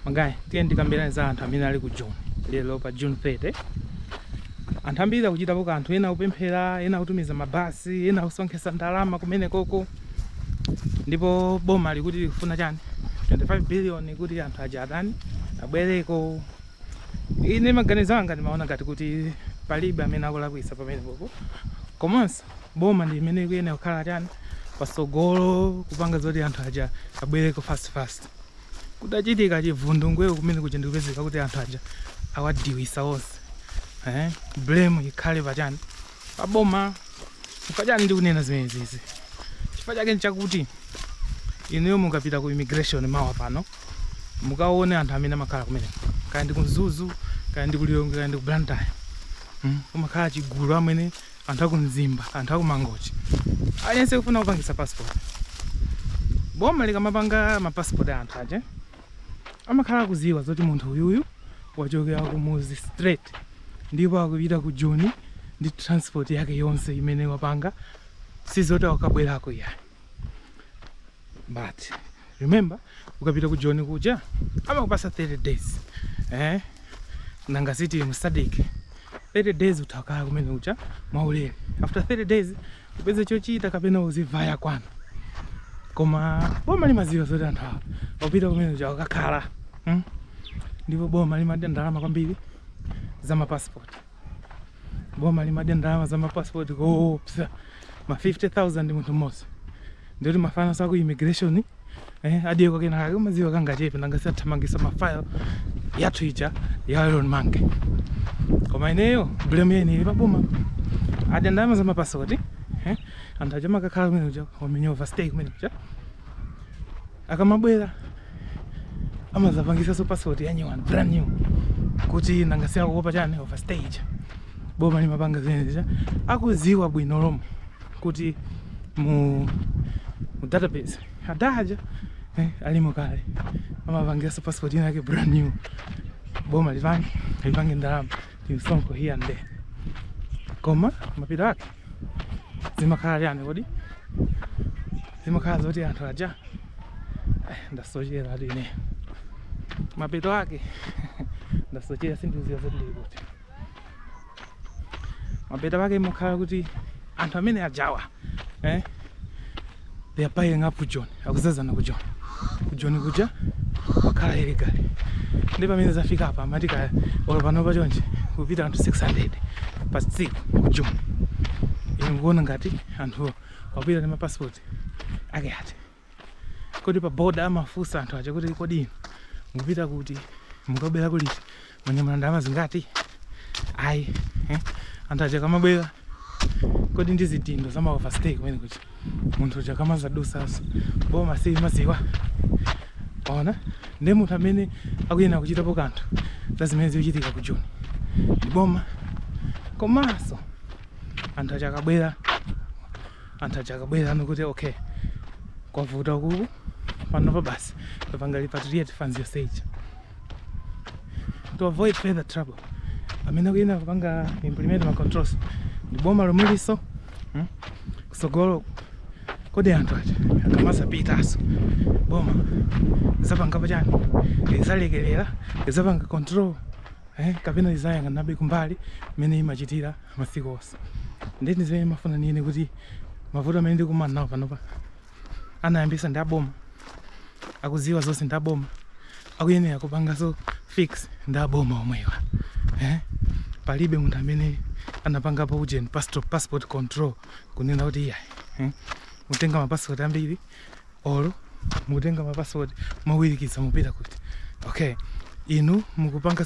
Magayi, tiyeni tikambirane za anthu amene ali ku Joni lero pa June 30. Anthu ambiri akuchitapo kanthu, ena akupemphera, ena akutumiza mabasi, ena akusonkhetsa ndalama kumene koko. Ndipo boma likuti likufuna chani? 25 billion kuti anthu aja atani abwereko. Ine maganizo anga ndimaona ngati kuti palibe amene akulakwitsa pamene popo, komanso boma ndi imene ikuyenera kukhala chani pasogolo kupanga zoti anthu aja abwereko fast fast kutachitika chivundungweo kumene kuja ndikupezeka kuti anthu aja awadiwisa onse eh? blame ikhale pachani paboma chifukwa chani ndikunena zimenezizi chifukwa chake nchakuti inuyo mukapita ku immigration mawa pano mukaone anthu amene amakhala kumeneko kaya ndi ku mzuzu kaya ndi ku lilongwe kaya ndi ku blantyre mm? kumakhala chigulu amene anthu aku Mzimba, anthu aku Mangochi, aliyense kufuna kupangisa passport. Boma likamapanga ma passport a anthu aja amakhala akuziwa zoti munthu uyuyu wachokera ku Muzi straight ndipo akupita ku Joni ndi transport yake yonse imene wapanga, sizoti akabwerako iyayi. but remember ukapita ku joni kuja amakupasa 30 days eh? nanga si ndi mu SADC 30 days utakhala kumene kuja mwaulere after 30 days upeze chochita kapena uzivaya kwanu koma boma limaziwa zoti anthu awa akupita kumene kuja akakhala hmm? ndipo boma limadya ndalama kwambiri za mapasipoti boma limadya ndalama za mapasipoti koopsa ma 50000 munthu mmodzi ndikuti mafanas aku immigration eh, adiyeko kena kake umadziwa kangachepe nanga si athamangisa mafile yathu ija ya Elon Musk koma ineyo blame yeni ili paboma adya ndalama za mapasipoti eh, anthu aja amakakhala kumene kuja amenya overstay kumene kuja Akamabwera amazapangisaso passport ya nyuwani brand new kuti nanga si akuopa chani overstay ija boma limapanga zimenezija akuziwa bwino lomwe kuti mu, mu database adaja eh, alimo kale amapangisaso passport inake brand new boma lipange lipange ndalama timsonkho here and there koma mapeto ake zimakhala chani kodi zimakhala zoti anthu aja eh, ndasochera ati ine mapeto ake ndasochera sindikuziwa zoti ndili kuti mapeto ake imakhala kuti anthu amene ajawa eh, they are piling up ku joni akuzazana ku joni ku joni kuja wakhala illegal ndi pamene zafika apa amati kaya olo panopa chonchi kupita anthu 600 pa tsiku ku joni ine mukuona ngati anthu akupita ndi mapasipoti ake ati kodi pa boda amafunsa anthu aja kuti kodi inu mukupita kuti mukabwera kuliti mwanyamula ndalama zingati ayi eh? anthu aja kamabwera kodi ndi zitindo za ma overstay kumene kuti munthu uja kamazadusaso boma si maziwa ona ndi munthu amene akuyenera kuchitapo kanthu za zimene zikuchitika ku joni ndi boma komanso anthu aja akabwera anthu aja akabwera anena kuti okay kwavuta kuku panopa basi apange repatriate funds yonse ija to avoid further trouble amene akuyenera kupanga implement ma controls ndi boma lomwelinso hmm? kusogolo kodi anthu aja akamazapitaso boma lizapangapo chani lizalekelera lizapanga control eh, kapena lizayang'anabe kumbali mmene limachitira masiku onse nde ndi zimene ndimafuna ninene kuti mavuto amene tikukumana nawo panopa anayambisa ndi aboma akuziwa zonse ndi aboma akuyenera kupangaso fix ndi aboma omwewa eh? palibe munthu amene anapangapo ujeni passport control kunena kuti iyayi eh? mutenga mapasipoti ambiri olo mukutenga mapasipoti mowirikiza mupita kuti okay inu mukupanga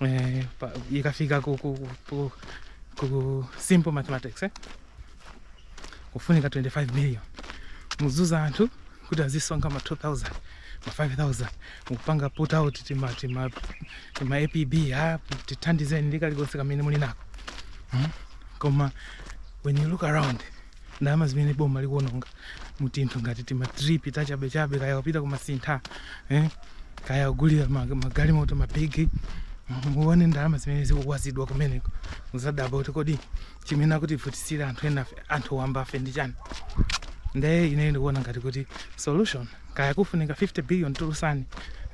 eh, pa- ikafika ku, ku, ku, ku simple mathematics eh? kufunika 25 million mukuuza anthu kuti azisonkha ma 2000 ma 5000 mukupanga put out tima, tima, tima apb a tithandizeni ndi kalikonse kamene muli nako hmm? koma when you look around ndalama zimene boma likuononga mutinthu ngati timatrip tachabechabe kaya kupita kumasinta eh? kaya kugulira magalimoto mabigi muone ndalama zimene zikumwazidwa kumeneko muzadabwa kuti kodi chimene akutivutisira anthu enafe anthu wambafe ndi chani nde ine ndikuona ngati kuti solution kaya kufunika 50 billion tulusani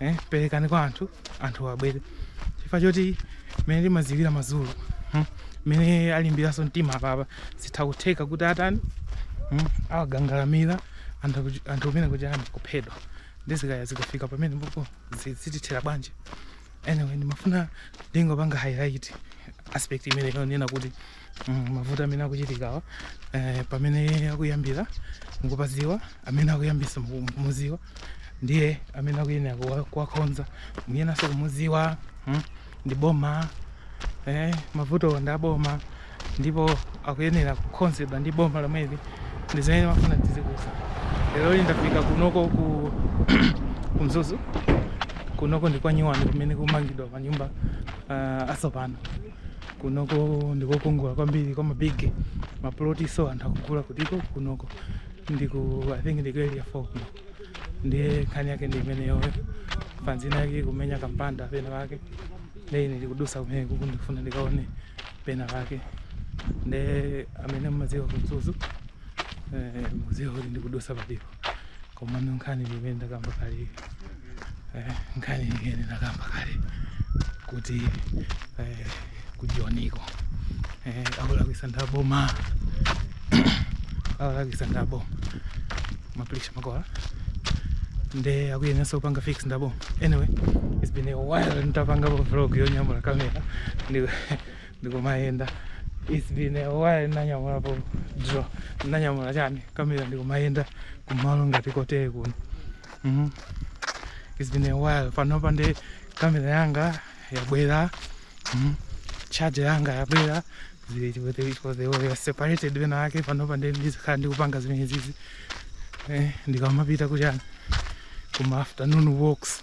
eh, perekani kwa anthu anthu abwere chifukwa choti mene ndimaziwira mazulu hmm? mene alimbiranso mtima apapa zitha kutheka kuti atani hmm? awakakamira anthu umene kuti ayamba kuphedwa ndikukayika zikafika pamenepopo zitithera bwanji anyway ndimafuna ndingopanga highlight aspect imeneyo kunena kuti mm, mavuto amene akuchitikawa eh, pamene akuyambira mukupaziwa amene akuyambisa mukumuziwa ndiye amene akuyenera kuwakhonza muyenaso kumuziwa mm, ndi boma eh, mavuto ndi aboma ndipo akuyenera kukhonzedwa ndi boma lomweli ndi zimene mafuna tiziudza lero li ndafika kunoko ku Mzuzu kunoko ndi kwa nyuwani kumene kumangidwa manyumba uh, asopano kunoko ndikokongola kwambiri kwa mabig maploti so anthu akugula kutiko kunoko ndiku i think ndiku area 4 kuno ndiye nkhani yake ndi imeneyo fans ina yake kumenya kampanda pena pake ndiye ine ndikudusa kumene kuku ndikufuna ndikaone pena pake ndiye amene mumadziwa ku Mzuzu muziwa kuti ndikudusa palipo komano nkhani imene ndakamba kale eh, nkhani imene ndakamba kale kuti eh, kujoniko eh, akulakwisa ndaboma akulakwisa ndaboma mapirisha makala nde akuyenanso kupanga fix ndaboma anyway it's been a while nditapangapo vlog yonyamula kamera ndikumayenda it's been a while ndinanyamulapo drone ndinanyamula chani kamera ndikumayenda kumalo ngati kotere kuno mm. it's been a while panopa ndi kamera yanga yabwera mm. charger yanga yabwera zili chikwete iko they were separated wena ake panopa ndi ndizikhala ndikupanga zimenezizi eh, ndikamapita kuchani kuma afternoon walks